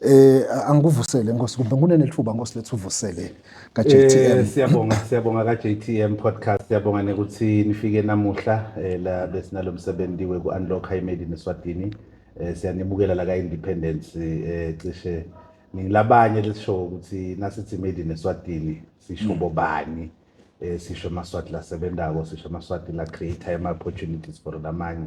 Eh angikuvusele Nkosi kumbe kunene lithuba Nkosi lethu uvusele ka JTM. Eh siyabonga siyabonga ka JTM podcast siyabonga nekuthi nifike namuhla eh, la besinalomsebenzi weku unlock high made in Swatini. Eh siyanibukela la ka Independence eh cishe ngilabanye lesisho ukuthi nasithi made in Swatini sisho bobani. Eh sisho amaswati lasebenzako sisho amaswati la create ama opportunities for lamanye.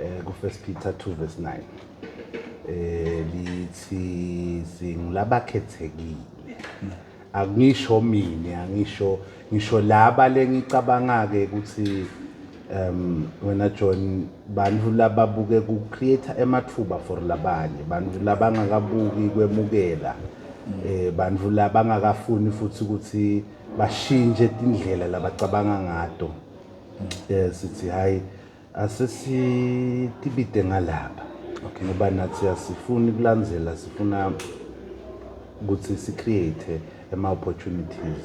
eh ku first Peter 2 verse 9 eh lithi singilabakhethekile akungisho mina angisho ngisho laba lengicabanga ke ukuthi um wena John bantu lababuke ku create emathuba for labanye bantu labangakabuki kwemukela eh bantu labangakafuni futhi ukuthi bashintshe indlela labacabanga ngato um sithi hhayi asesitibide ngalapha okay ngoba nathi asifuni kulandzela sifuna ukuthi si-create ama-opportunities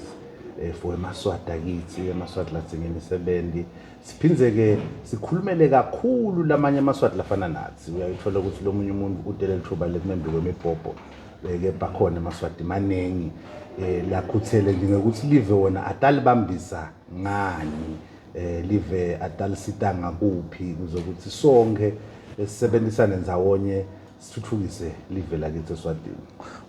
um for emaswadi akithi amaswadi ladzinga imisebenzi siphindze-ke sikhulumele kakhulu lamanye amaswadi lafana nathi uyayithola ukuthi lo munye umuntu udele lithuba lekumembi kwemibhobho ke bakhona emaswadi maningi um lakhuthele nje ngekuthi live wona atalibambisa ngani eh live atalisita ngakuphi kuze ukuthi sonke sisebenzisane ndzawonye sithuthukise live lakithi eSwatini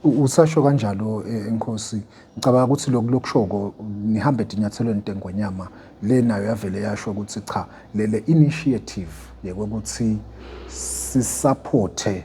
usasho kanjalo eh, inkosi ngicabanga ukuthi lokhu lokushoko nihambe dinyathelweni intengonyama le nayo yavele yasho ukuthi cha lele initiative yekuthi sisaphothe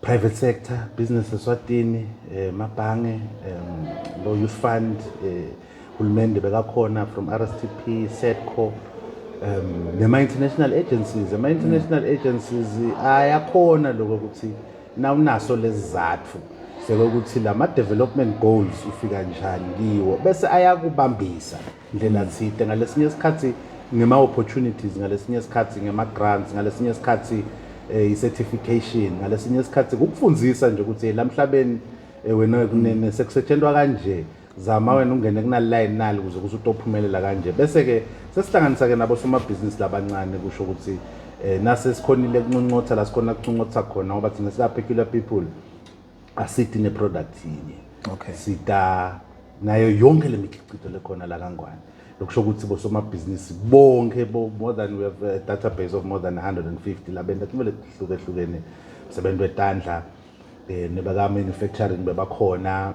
private sector business eswatini eh, mabhange um, lo youth fund eh, hulumende bekakhona from rstp setco um nema-international agencies ama-international mm. agencies ayakhona lokho ukuthi nawunaso lezi zathu sekokuthi la ma-development goals ufika njani kiwo bese ayakubambisa ndlela zide ngalesinye isikhathi ngema opportunities ngalesinye isikhathi ngema grants ngalesinye isikhathi eh, i certification ngalesinye isikhathi kukufundisa nje ukuthi lamhlabeni eh, wena kunene sekusetshenzwa kanje zama wena ungene kunalilayi nali ukuze kuze utophumelela kanje bese ke sesihlanganisa ke nabo somabhizinisi labancane kusho ukuthi eh nase sikhonile kunconcotha la sikhona kunconcotha khona ngoba thina sika peculiar people asidi neproduct yinye okay sida nayo yonke lemikhiqizo lekhona la kangwane lokusho ukuthi bosomabhizinisi bonke bo more than we have a database of more than 150 labenta kumele kuhluke hlukene sebentu etandla eh nebaka manufacturing bebakhona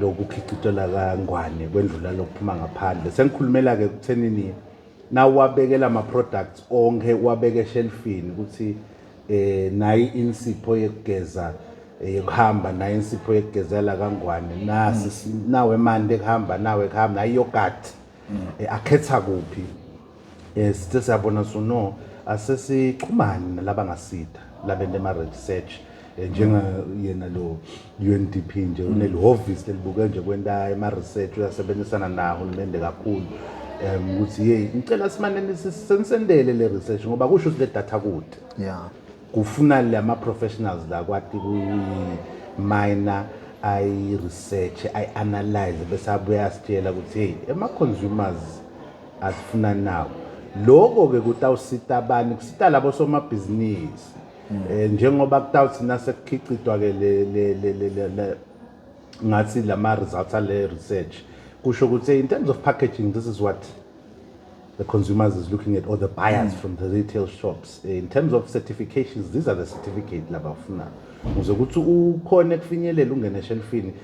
lokukhicitela kangwane kwendlula lokuphuma ngaphandle sengikhulumela ke kuthenini nawabekela ama products onke wabeke shelfini ukuthi eh nayi insipho yekugeza eh, yekuhamba nayi insipho yekugezela kangwane nasi nawe mande kuhamba nawe kuhamba nayi yogurt mm. eh, akhetha kuphi Eh sithe siyabona so no asesixhumani nalaba ngasida labenta ama research eh, njenga yena lo UNDP nje unelihhovisi lelibuke nje kwenta ama research uyasebenzisana nawo hulumende kakhulu em ukuthi hey ngicela simane nisi- senisendele le research ngoba kusho ukuthi le data kude yeah kufuna lama professionals la kwati kuyimina ayi research ayi analyze bese abuya asitshela ukuthi hey ema consumers asifunani nawo loko ke kutawusita bani kusita labo somabhizinisi hmm. eh njengoba kutawuthi nasekukhiqidwa ke le le le ngathi lama results ale research kusho ukuthi in terms of packaging this is what the consumers is looking at or the buyers mm. from the retail shops eh, in terms of certifications these are the certificate labafuna ukuze ukuthi ukhona kufinyelela ungene eshelfini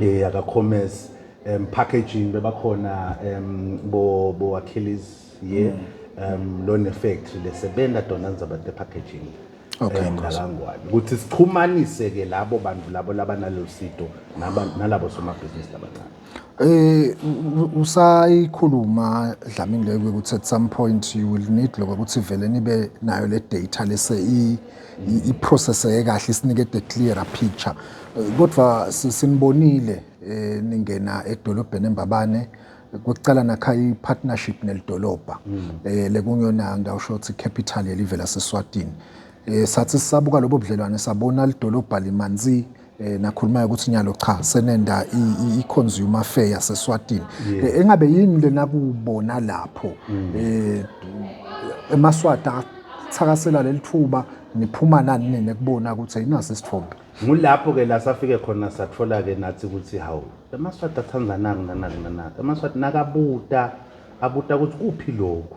eh aka commerce um packaging bebakhona um bo bo Achilles ye um lo ne factory lesebenza dona nizaba the packaging Okay, eh, Nkosi. ngalangwane ukuthi sixhumanise ke labo bantu labo labanalo sito naba- nalabo somabhizinisi labancane Eh u- u- usayikhuluma Dlamini leyo ukuthi at some point you will need lokho ukuthi vele nibe nayo le data lese i iprocesseke kahle isinike the clearer picture kodwa sinibonile eh, ningena edolobheni embabane kwekucala nakha i-partnership nelidolobha mm. eh, lekungiyona ngawusho ukuthi capital yelive laseswatini eh, sathi sisabuka lobo budlelwane sabona lidolobha limanzi eh nakhuluma ukuthi nyalo cha senenda i consumer fair yaseSwatini eh, engabe yini lena kubona lapho mm. eh emaswata thakasela lelithuba niphuma nani nini kubona ukuthi ayinasi isithombe ngulapho ke la safike khona sathola ke nathi ukuthi hawu emaswati athandzanaki nanaki nanaki emaswati nakabuta abuta ukuthi kuphi lokhu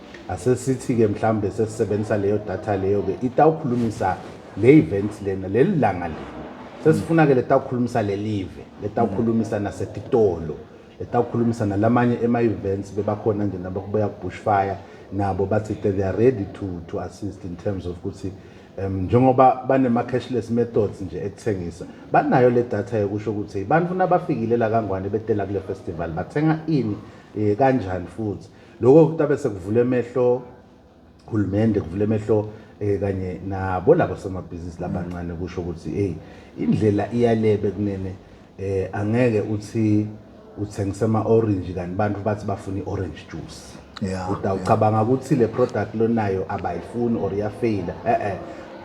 asesithi-ke mhlawumbe sesisebenzisa leyo data leyo-ke itawukhulumisa le event lena leli langa lena sesifuna-ke letawukhulumisa lelive letawukhulumisa nasetitolo letawukhulumisa nalamanye ema-events bebakhona nje nabakubuya kubushfire nabo bathi they are ready to, to assist in terms of ukuthi um njengoba banema-cashless methods nje ekuthengisa banayo le data yokusho ukuthi abantu nabafikile la kangwane betela kule festival bathenga ini um kanjani futhi Lokho kutabe sekuvula emehlo hulumende kuvula emehlo eh kanye nabo labo somabhizinisi labancane kusho ukuthi hey indlela iyalebe kunene eh angeke uthi uthengisa ama orange kanti abantu bathi bafuna i-orange juice yeah, utawucabanga yeah. ukuthi le product lonayo abayifuni or iyafeyila eh eh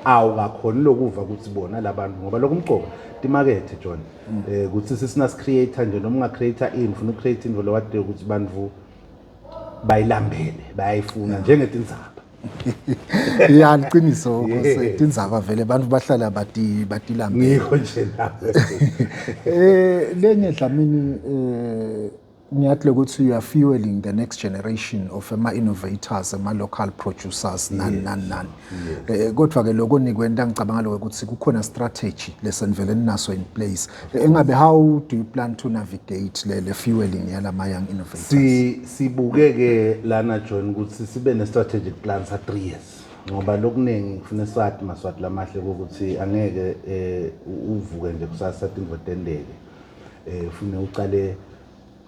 awukakhoni lokuva ukuthi bona labantu ngoba lokho umcoba timakethe John mm. eh ukuthi sisina creator nje noma unga creator ini ufuna create into lo wade ukuthi bantu bayilambele bayayifuna njengetinzaba ya liqiniso tindzaba vele abantu bahlala bati batilambele ngikho nje nawe eh lenye dlamini eh ngiyathi ukuthi you are fueling the next generation of ama innovators ama local producers nani nani nani Eh, kodwa ke lokho nikwenta ngicabanga lokho ukuthi kukhona strategy lesenivele ninaso in place eh, engabe how do you plan to navigate le le fueling yalama young innovators si sibuke ke lana join ukuthi sibe ne strategic plan sa 3 years ngoba lokuningi kufuna swati maswati lamahle ukuthi angeke eh, uvuke nje kusasa tingo tendeke eh ufune uqale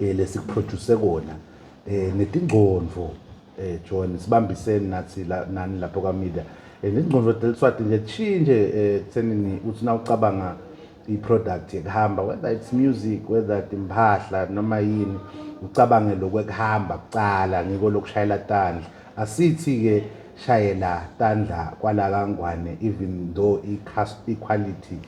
eh lesikuproduce kona eh netingcondvo eh John sibambisene nathi la nani lapho ka media eh nezingcondvo deliswati nje chinje eh tsenini uthi na ucabanga i product yekuhamba whether it's music whether imphahla noma yini ucabange lokwekuhamba kucala ngiko lokushayela tandla asithi ke shayela tandla kwala kangwane even though i quality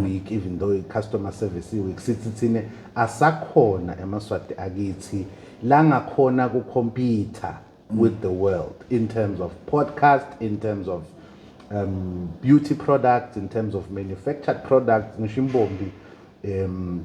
week even though i-customer service week sithi thina asakhona emaswati akithi la ngakhona ku-computer with the world in terms of podcast in terms of um, beauty products in terms of manufactured products ngisho imbombi um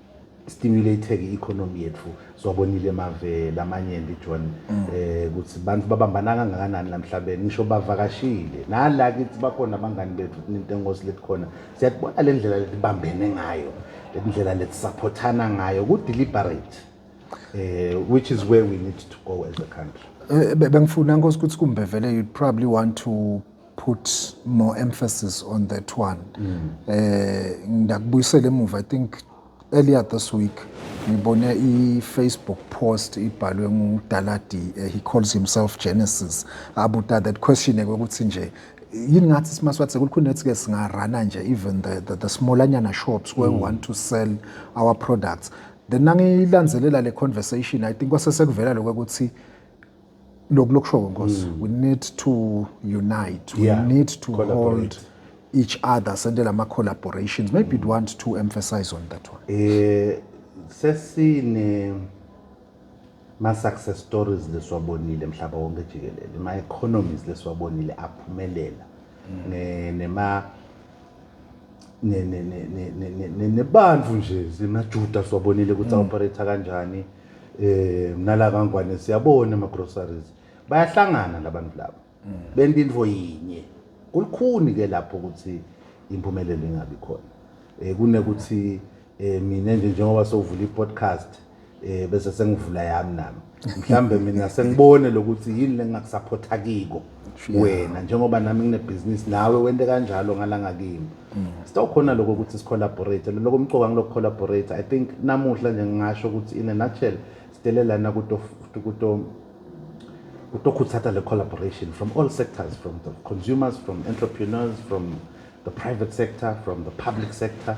stimulated i-economy yethu siwabonile mave lamanyenti john mm. eh ukuthi bantu babambana kangakanani lamhlabeni ngisho bavakashile nala kithi bakhona abangani bethu into engosi lethi khona siyakubona le ndlela letibambene ngayo le ndlela letisaphothana ngayo ku-deliberate eh which is where we need to go as a country eh, bengifuna nkosi ukuthi kumbe vele you probably want to put more emphasis on that one mm. eh ngidakubuyisela emuva i think earlier this week ngibone i-facebook post ibhalwe ngudaladi uh, he calls himself genesis abuta that question ukuthi nje yini ngathi simaswathi sekulukhuni ethi-ke singarana nje even the, the, the smallanyana shops where mm. we want to sell our products then nangiyilanzelela le conversation i think kwasesekuvela lokho ukuthi lokulokushowo nkosi mm. we need to unite we yeah. need to hold each other sendele ama-collaborations maybe mm. want to emphasize on that one eh sesine ma-success stories lesiwabonile mhlaba wonke jikelele ma-economies lesiwabonile aphumelela mm. nema nebantu nje semajuda siwabonile ukuthi mm. aoperate kanjani eh nala kangwane siyabona ama groceries bayahlangana labantu laba mm. benta into yinye kulikhuni ke lapho ukuthi impumelelo ingabi khona eh kunekuthi eh mina nje njengoba sovula i-podcast eh bese sengivula yami nami mhlambe mina sengibone lokuthi yini lengakusupporta kiko wena njengoba nami nginebhizinisi nawe wente kanjalo ngalanga kimi mm. sitawukhona lokho ukuthi sicollaborate loko mcoka ngilokho collaborate i think namuhla nje ngingasho ukuthi in a nutshell sidele lana kuto kuto kutokhuthatha le collaboration from all sectors from the consumers from entrepreneurs from the private sector from the public sector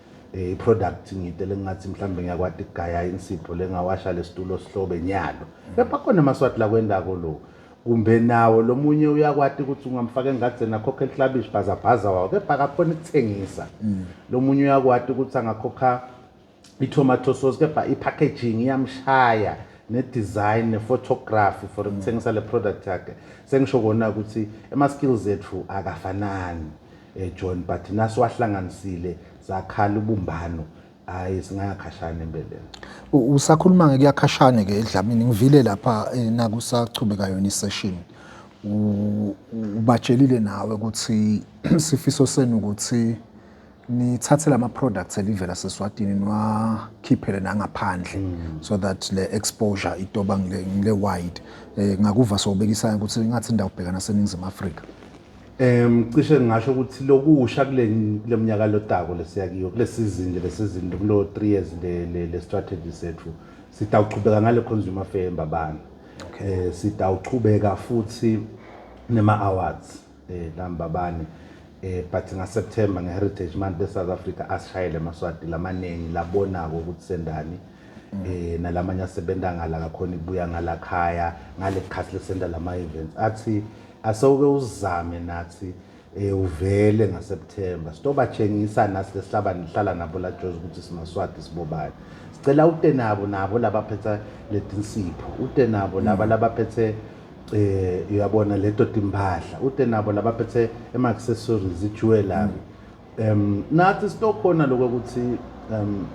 Eh, i-product ngite lengingathi mhlawumbe ngiyakwati kugaya insipho lengawasha lesitulo sihlobe nyalo kepha khona amaswati lakwendako lo kumbe nawo lomunye uyakwati ukuthi ungamfaka engadzeni akhokhe liklabishi bhazabhaza wawo kepha akakhona ukuthengisa mm. lomunye uyakwati ukuthi angakhokha i-tomato sauce kepha i-packaging iyamshaya ne-design ne-photography for mm. ukuthengisa le product yakhe sengisho kona ukuthi ema-skills ethu akafanani eh, John but naso wahlanganisile zakhala ubumbano hayi singayakhashana empeleni usakhuluma ke kuyakhashane ke edlamini ngivile lapha eh, nakusachubeka yona isession ubatshelile nawe ukuthi sifiso senu ukuthi nithathe lama products elivela seswatini niwakhiphele nangaphandle mm. so that le exposure itoba ngile wide eh, ngakuva sowubekisana ukuthi ngathi indawo ubhekana seningizimu Afrika Um cishe ngingasho ukuthi lokusha kule kule mnyaka lotako lesiya kiyo kule sizini le lesizini kulo 3 years le le, le strategy sethu sitawuqhubeka ngale consumer fair embabane eh sitawuqhubeka futhi nema awards eh lambabane eh but nga September nge Heritage Month e South Africa asishayele amaswati lamaningi labonako ukuthi sendani eh nalamanye asebenza ngala kakhona ibuya ngala khaya ngale khathi lesenda lama events athi asewuke uzame nathi eh uvele ngaSeptember sitobachengisa nasi lesihlaba nihlala nabo la Jozi ukuthi simaswati sibobani sicela ute nabo nabo labaphetha letinsipho ute nabo laba mm. labaphethe eh uyabona leto timpahla ute nabo labaphethe ema accessories jewelry mm. um nathi sitokhona lokho ukuthi um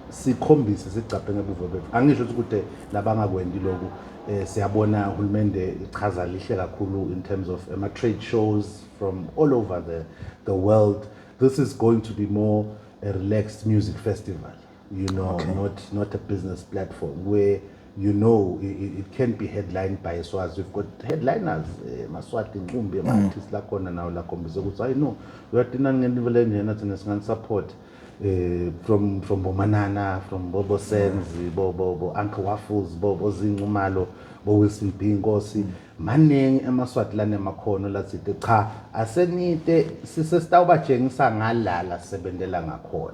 sikhombise sigcabhe ngebuvo bethu angisho ukuthi kude labangakwendi lokhu eh siyabona uhulumende ichaza lihle kakhulu in terms of ama trade shows from all over the the world this is going to be more a relaxed music festival you know okay. not not a business platform where you know it, it can't be headlined by Swaz we've got headliners eh, maswati nqumbi ama mm. artists la khona nawo la khombisa ukuthi i know uyatina ngenivele njena thina singani support eh from from bomanana from bobo senzi mm. bobo bo uncle waffles bobo zinqumalo bo wilson b inkosi mm. maningi emaswati lana emakhono lathide cha asenite sisesitawubatshengisa ngalala sebenzela ngakhona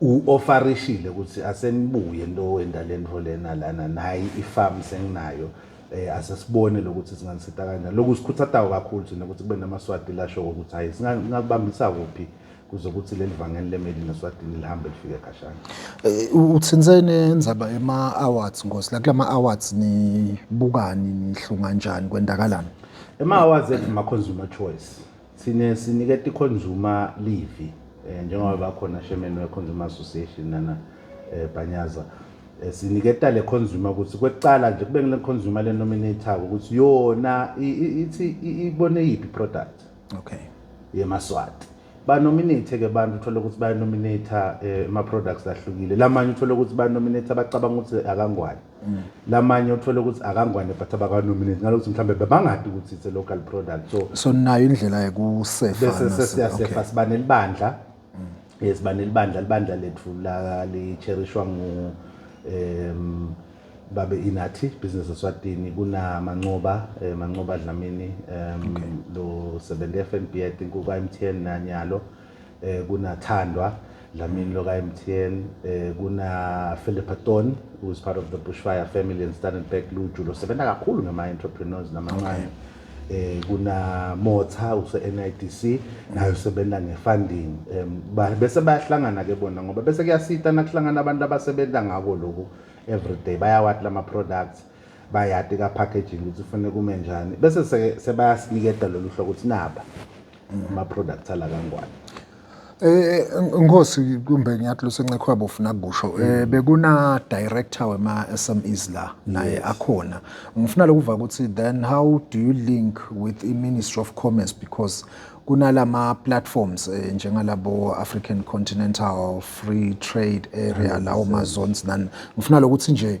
u-ofarishile ukuthi asenibuye nto wendala ento lena lana nayi ifamu senginayo eh asesibone lokuthi singanisita kanjani lokhu sikhuthatayo kakhulu thina ukuthi kube namaswati lasho ukuthi hayi singakubambisa kuphi kuze ukuthi leli vangeli lemeli neswatini lihambe lifike kashana eh, uthinsene indzaba ema awards ngosi la kulama awards nibukani nihlunga kanjani kwendakalani ema awards ethi ma consumer choice Sine siniketa iconsumer livi eh, njengoba bakhona chairman weconsumer association nana eh, Bhanyaza eh, siniketa le consumer ukuthi kwecala nje kube ngile consumer le nominator ukuthi yona ithi ibone yiphi product okay yemaswati banominate-ke abantu uthole ukuthi bayanominate-a eh, ama-products ahlukile lamanye uthole ukuthi banominate abacabanga ukuthi akangwani Mm. lamanye uthole ukuthi akangwane but abakanominate ngalokuthi mhlawumbe bebangadi ukuthi it's a local product so so nayo indlela yokusefabese sesiyasefa siba nelibandla mm. yes siba nelibandla libandla lethu licherishwa ngu um babe inathi business eswatini kunamancoba um eh, mancoba dlamini um lo sebenza i-f n b i think kuka-m t n nanyalo okay. eh kuna Thandwa Dlamini loka MTN eh kuna Philippa Ton who is part of the Bushfire family and Standard Bank Luju lo sebenza kakhulu ngama entrepreneurs namancane eh kuna Motha use NIDC nayo sebenza ngefunding um, bese bayahlangana ke bona ngoba bese kuyasita nakuhlangana abantu abasebenza ngako lokhu everyday bayawathi lama products bayati ka packaging ukuthi kufanele kume njani bese sebayasiniketa lolu hlobo ukuthi naba ama-products ala kangwane Eh Nkosi kumbe ngiyathi lusencekhwe yabo ufuna kusho eh mm. bekuna director wema SMEs la naye akhona ngifuna lokuva ukuthi then how do you link with i Ministry of Commerce because kunalama platforms eh, njengalabo African Continental Free Trade Area lawo ma zones nani ngifuna lokuthi nje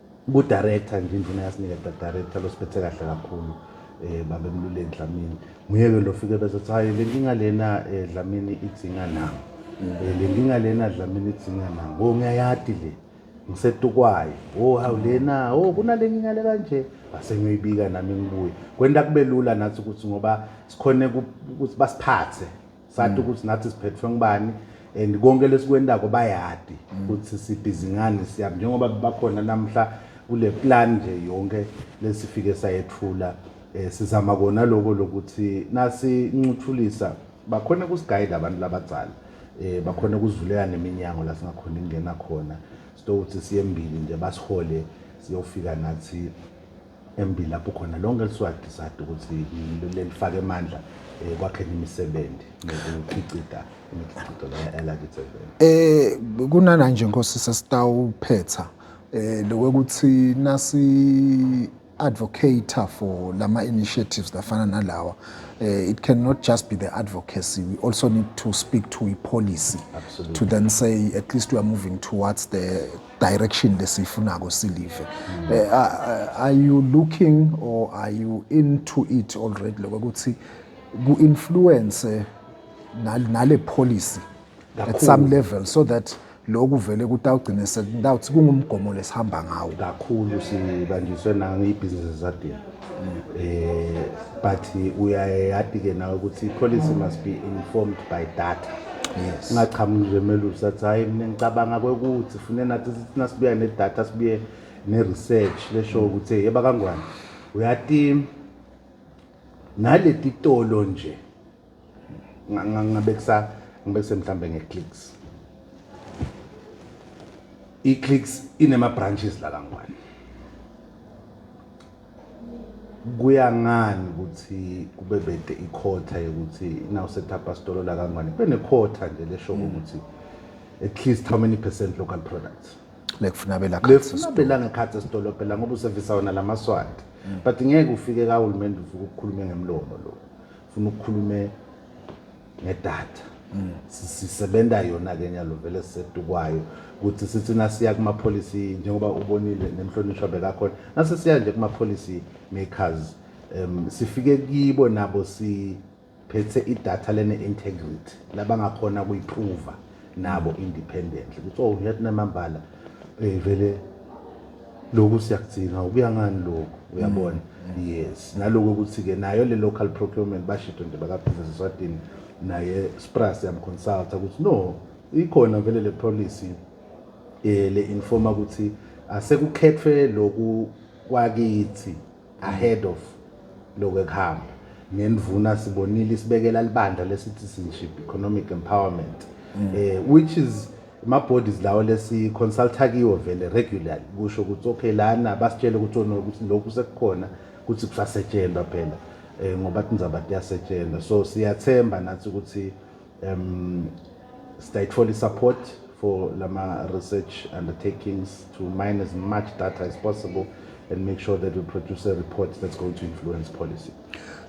Ku director nje induna yasinika director losiphethe kahle kakhulu eh babe mlule Dlamini nguye ke lo fike bese ukuthi hayi lenkinga lena eh, Dlamini idzinga na Eh, lenkinga lena Dlamini idzinga na wo ngiyayati le ngisetukwayo wo hawu lena wo kunalenkinga le kanje base ngiyoyibika nami ngibuye kwenta kube lula nathi ukuthi ngoba sikhone ku- ukuthi basiphathe sathi mm. ukuthi nathi siphethwe ngubani and konke lesikwendako bayadi mm. ukuthi sibhizi ngani siyaphi njengoba bakhona namhla kule plan nje yonke lesifike sayethula um sizama kona loko lokuthi nasincuthulisa bakhona kusigayida abantu labadzala um bakhona kuzivulela neminyango la singakhona ingena khona sitokuthi siyembili nje basihole siyofika nathi embi lapho khona lonke liswadi sadi ukuthi lelifake amandla eh, kwakheni imisebenzi nokukhiqida imikhiqido elakithi eh kunana nje nkosi sesitawuphetha eh lokuthi nasi advocate for lama initiatives lafana nalawa uh, it cannot just be the advocacy we also need to speak to a policy Absolutely. to then say at least we are moving towards the direction lesiyifunako silive mm. eh, are you looking or are you into it already lokho ukuthi ku influence nale policy at some level so that lokhu vele kutawugcine sekutawuthi kungumgomo lesihamba ngawo kakhulu sibanjiswe nange ibhizinisi zadini eh but uyayati-ke nawe ukuthi policy must be informed by data yes. ungaqhamuki nje melusi athi hhayi mina ngicabanga kwekuthi fune nathi sithi nasibuya nedata sibuye ne-research leshoyo ukuthi hey yeba kangwane uyati naleti tolo nje ngabe kusa ngibe kusemhlambe ngeclicks iclicks inema branches la kangwane kuya ngani ukuthi kube bede ikhotha yokuthi now set up a store la kangwane kube nekhotha nje lesho hmm. ukuthi at least how many percent local products lekufuna bela lekufuna bela ngekhathi esitolo phela ngoba usevisa wona lamaswati hmm. but ngeke ufike kahulumende uvuke ukukhulume ngemlomo lo funa ukukhulume ngedata mm. sisebenza yona ke nyalo vele sisetukwayo ukuthi sithi nasiya kuma policy njengoba ubonile nemhlonishwa bekakhona nase siya nje kuma policy makers um sifike kibo nabo si phethe idatha lene integrity labangakhona kuyiprova nabo independently ukuthi oh yathi namambala eh vele lokhu siyakudzinga ukuya ngani lokhu uyabona mm. yes naloko ukuthi ke nayo le local procurement bashido nje bakabusiness eswatini naye spras yamconsulta ukuthi no ikhona vele le policy eh le informa ukuthi asekukhethwe loku kwakithi ahead of lokhu ekuhamba ngendvuna sibonile isibekela libandla le-citizenship economic empowerment mm. eh, which is ama-bodies lawo lesi-consulta kiwo vele regularly kusho ukuthi okay lana basitshele ukuthi ukuthi lokhu sekukhona ukuthi kusasetshenzwa phela um ngoba tindzaba tiyasetshenzwa so siyathemba nathi ukuthi um sitayithola i-support for lama research undertakings to mine as much data as possible and make sure that we produce a report that's going to influence policy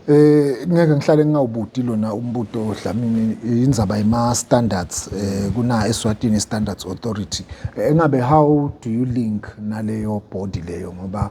eh ngeke ngihlale ngingawubuti lona umbuto odlamini indzaba yema standards eh kuna eSwatini standards authority engabe eh, how do you link naleyo body leyo ngoba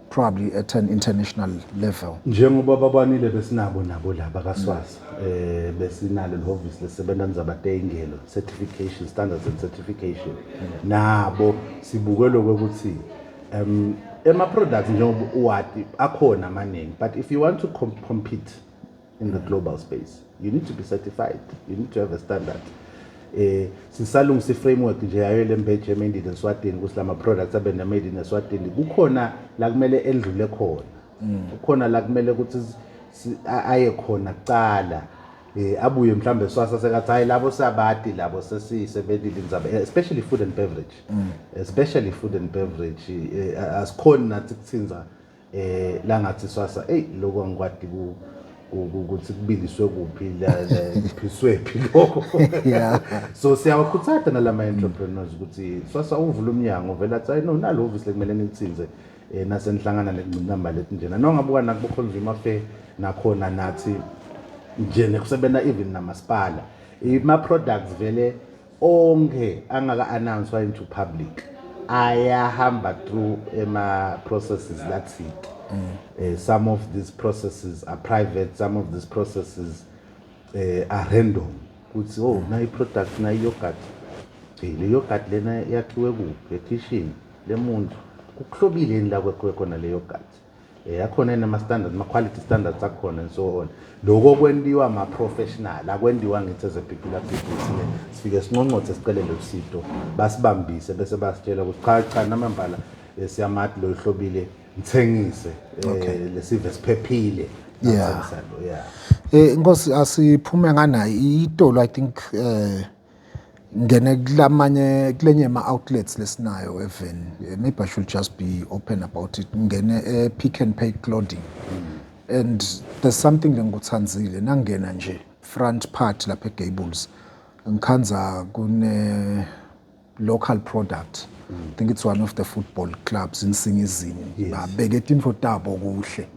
probably at an international level njengoba babanile besinabo nabo laba kaswazi mm. eh besinalo lehhovisi lesebenza ngizabatengelo certification standards and certification mm. nabo sibuke lokho ukuthi um ema products njengoba uwati akhona amaningi but if you want to comp compete in the global space you need to be certified you need to have a standard eh sisalungisa iframework nje yayo lembeje made in Swatini ukuthi lama products abe ne made in Swatini kukhona la kumele endlule khona mm. kukhona la kumele ukuthi aye khona kuqala eh abuye mhlambe swasa sekathi hayi labo sabati labo sesisebenzile inzaba eh, especially food and beverage mm. especially food and beverage eh, asikhona nathi kuthinza eh langathi swasa ey lokho angikwadi ku ukuthi kubiliswe kuphi laphiswe phi lokho so siyawakhuthatha nalama entrepreneurs ukuthi swasa uvula umnyango vela athi no nalo obviously kumele nitsinze eh nasenihlangana nekungcinamba lethi njena nongabuka nakubo consumer fair nakhona nathi nje nekusebenza even namasipala ima products vele onke angaka announced into public ayahamba through ema processes that's it mm. uh, some of these processes are private some of these processes uh, are random kuthi oh mm. nayi product nayi yogurt hey le yogurt lena yakhiwe kuphi ekitchen lemuntu kuhlobile yini la kwekho khona le yogurt Eh, akhona yini ama-standards ama-quality standards akhona and so on loko kwentiwa ama-professional akwendiwa ngithi as a particular people sine sifike sinconcothe sicelele usito basibambise bese basitshela ukuthi cha cha namambala eh, siyamati lo hlobile ngithengise eh, lesive siphephile Yeah. Athengisa lo, yeah Eh Nkosi asiphume ngana itolo I think eh Ngene kulamanye kulenye ama outlets lesinayo even eh, maybe I should just be open about it. Ngene e Pick and Pay clothing. And there's something lengikuthandzile nangena nje front part lapha eGables. Ngikhanza kune local product. I think it's one of the football clubs in Singizini. Babeke tinfo tabo kuhle.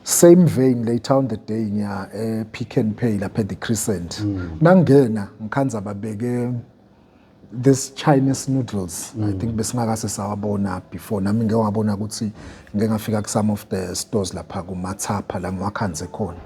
same vein later on the day ngiya ePick eh, n Pay lapha eThe Crescent hmm. nangena ngikhanza babeke this Chinese noodles mm. I hmm. think besingakase sawabona before nami ngeke ngabona ukuthi ngeke ngafika ku some of the stores lapha ku Mathapha la ngiwakhanze khona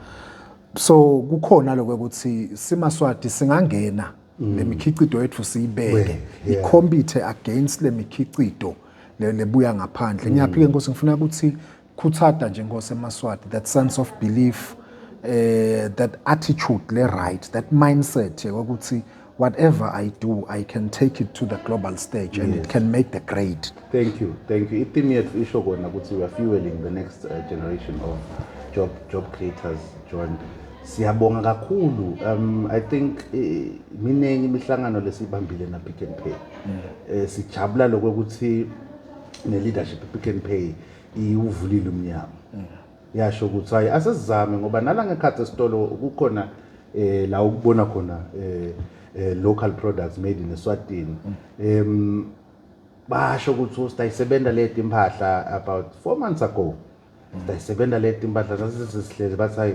so kukhona lokho ukuthi simaswati singangena hmm. lemikhiqido yethu siyibeke ikhompithe against lemikhiqido lebuya ngaphandle ngiyaphike nkosi ngifuna ukuthi Khuthata nje Nkosi eMaswati that sense of belief eh that attitude le right that mindset yokuthi whatever I do I can take it to the global stage and it can make the grade Thank you, thank you. I-theme yethu isho kona ukuthi we are fueling the next uh, generation of job job creators, John. Siyabonga kakhulu. Um I think eh, miningi imihlangano lesibambile na Pick n Pay. Eh sijabula lokuthi ne leadership Pick n Pay iwuvulile umnyango yasho ukuthi hayi asizame ngoba nala ngekhathi esitolo kukhona eh la ukubona khona eh, eh local products made in Eswatini em basho ukuthi usidayisebenza leti impahla about 4 months ago sidayisebenza leti impahla sasisihlezi bathi hayi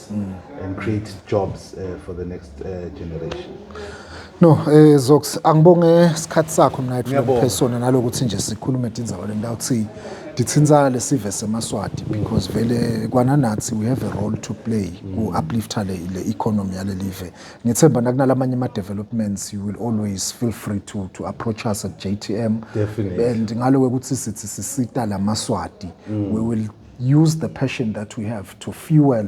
mm. and create jobs uh, for the next uh, generation no eh zox angibonge isikhathi sakho mina ithi phesona nalokuthi nje sikhulume tindzaba le ndawo thi dithintsana lesive semaswati because vele kwananathi we have a role to play ku uplifter le, le economy yale live ngithemba nakunalamanye ama developments you will always feel free to to approach us at JTM Definitely. and ngalo ukuthi sithi sisita lamaswati mm. we will use the passion that we have to fuel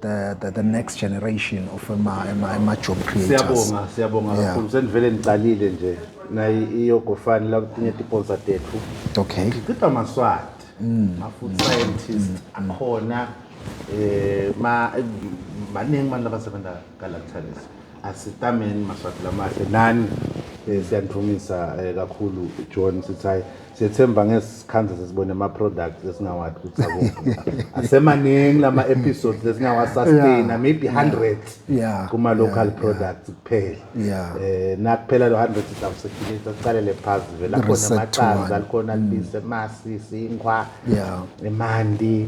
the, the, the next generation of ema, ema, ema job creators. Siyabonga, siyabonga yeah. kakhulu. Senivele niqalile nje nayi iyogofani la kutinye tiponsa tethu. Okay. Ngicipha maswati. Mm. Ma food mm. scientist mm. akhona eh ma maningi abantu abasebenza kala Thalisi. Asitameni maswati lamahle nani eh, siyanithumisa eh, kakhulu John sithi hayi siyethemba ngesikhandla sesibone ama products esingawathi ukuthi akuphi asemaningi lama episodes lesingawa sustain Yeah. maybe 100 Yeah. kuma local products kuphela Yeah. eh nakuphela lo 100 izawusekhilisa siqalele phansi vela khona Reset to amaqanda one. Mm. likhona libise masi sinkwa Yeah. emanti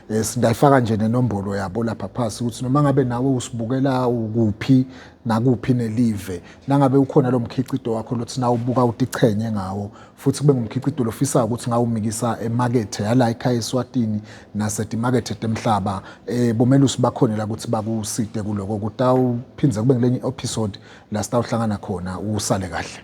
Yes, ndayifaka nje nenombolo yabo lapha phasi ukuthi noma ngabe nawe usibukela ukuphi nakuphi nelive nangabe ukhona lo mkhiqido wakho lothi na ubuka utichenye ngawo futhi kube ngumkhiqido lofisayo ukuthi ngawumikisa emakethe yala ekhaya eSwatini nasetimakethe temhlaba eh bomelusi bakhona la ukuthi bakuside kuloko kutawuphindze kube ngilenye episode la sitawuhlangana khona usale kahle